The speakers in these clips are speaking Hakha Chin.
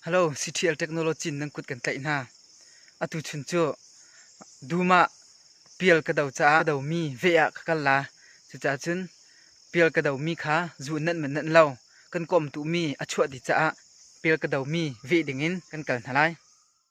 Halo, CTL technology nan kut kan tlaih hna. Atu chun cu dum ah pial ka do caah ka domi veh ah ka kal la. Cucaah cun pial ka domi kha zu in nan man nan lo. Kan kawmtumi a chuah dih caah pial ka domi veh dingin kan kal hna lai.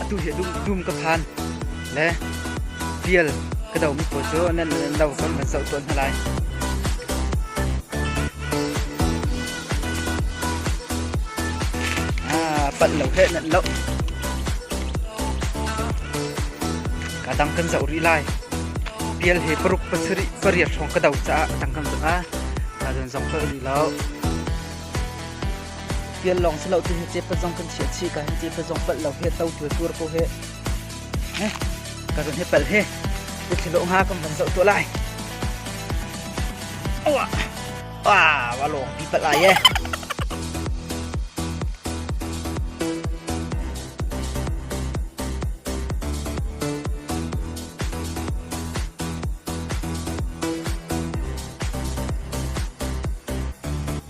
atu hi dum ka khan le vial ka domi pawl cu nan lo kan van zoh tawn hna lai. Ah, palh lo he nan lo. Kadang kan zoh rih lai. Pial he paruk pasari pariat hrawng ka do caah tang kan zong ah kadon zong ka ni lo. Tial lawng si lo tu hi cepat zong kan chiah chi ka hin cepat zong palh lo he to tu tur ko he ne ka run he pal he te thilo nga kan van zo to lai awa wa wa long pi pal ai e